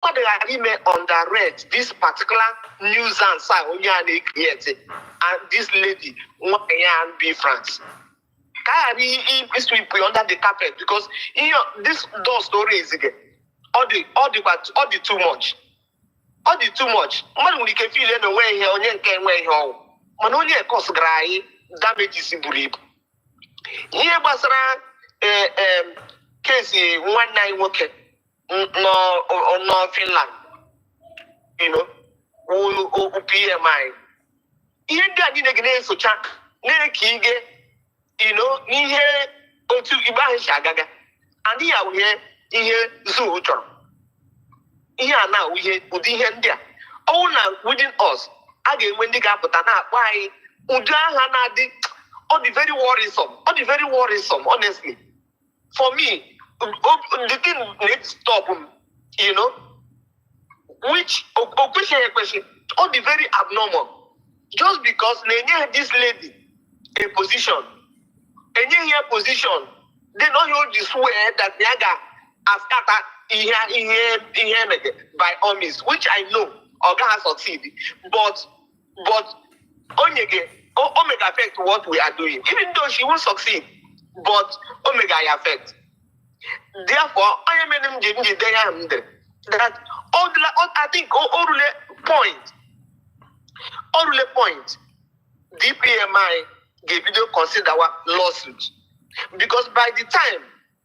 mmadụ ghara ime underrate this particular nuisance a onye a na-ekrieti and this lady nwanyị a Biafrans ka a ghara iswip under the carpet because ihe this door story ezige ọ dị ọ dịkwa ọ dị too much ọ dị too much mmadụ nwere ike feel na onwe ihe onye nke enwe ihe ọ wụ mana onye a kọsgara anyị damages buru ibu ihe gbasara case eh, eh, nwanne anyị nwoke nọ nọ Finland you know okwu PM anyị ihe ndị a niile ga na-esocha na-eke ige you know n'ihe otu ikpe ahụ si agaga adịghị awụ ihe ihe zoo chọrọ ihe a na-awụ ihe ụdị ihe ndị a ọ wụrụ na within us a ga-enwe ndị ga-apụta na-akpọ anyị ụdị aha na-adị ọ dị very worrisome ọ dị very worrisome honestly for me the thing need stop you know which okwesịghị ekwesị ọ dị very abnormal just because na enye this lady a position enyeghị ya position then ọ ya o ji swear that ya ga-askata ihe ihe ihe emege by all means which i know ọ gaghị succeed but but onye ga o mega affect what we are doing even though she won't succeed but o mega ya affect therefore onye mere m ji m ji denye ahụ m dere that all the all, I think o o rule point o rule point DPMI ga-ebido consider wa lawsuit because by the time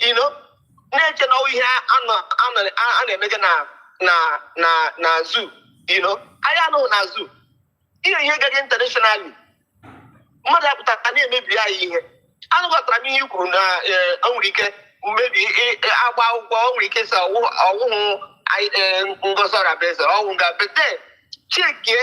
you know na-eche na ọ wụ ihe a na-emega na na na na zoo you know anyị anọghị na zoo ihe ihe gara internationally mmadụ apụta ka na-emebi anyị ihe anabatara m ihe i kwuru na e, e nwere ike maybe agba akwụkwọ e nwere ike sị ọ wụhụ e, Ngozi Orabueze ọ wụ ga bete chekie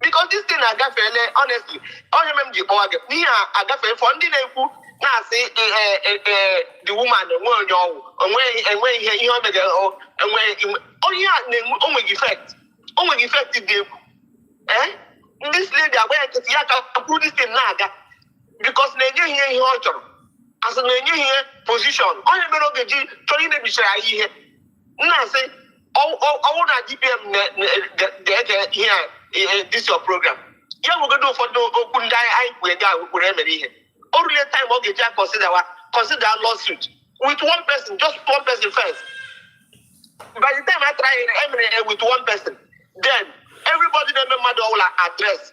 because this thing agafeele honestly ọ ya mere m ji kpọwa gị na ihe a agafeele for ndị na-ekwu na-asị the woman enwe onye ọ wụ enwe ihe ihe o megara enwe onye a na-enwe o nweghị effect o nweghị effect dị egwu ee this lady agba ya nkịtị ya ka kwuru this thing na-aga because na enyeghị ya ihe ọ chọrọ asị na enyeghị ya position ọ ya mere ọ ga-eji chọọ imebichara anyị ihe na-asị ọ wụrụ na DPM ga-ege ihe a this your program ya nwegodo ụfọdụ okwu ndị anyị kwuru ndị ahụ kwuru emere ihe o rule time ọ ga-eji consider wa consider lawsuit with one person just one person first by the time I try emere ihe with one person then everybody na-eme mmadụ ọ bụla address